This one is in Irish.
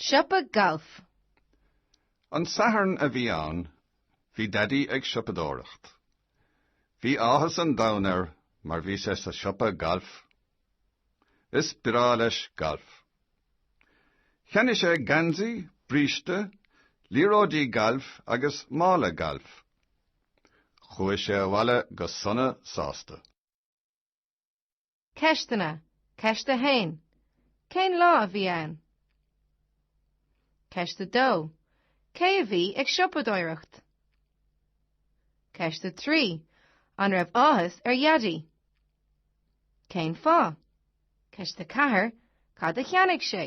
Siopa Gailf. An Satharn a bhí ann, bhí Daidí ag siopadóireacht. Bhí áthas an domhain air mar bhí sé sa siopa gailf. Is breá leis galf. Cheannaigh sé geansaí, bríste, liathróidí gailf agus mála gailf. Chuaigh sé abhaile go sona sásta. Ceisteanna, Ceist 1, Cén lá a bhí ann? Ceist 2, Cé a bhí ag siopadóireacht? Ceist 3, An raibh áthas ar Dhaidí? Cén fáth? Ceist 4, Cad a cheannaigh sé?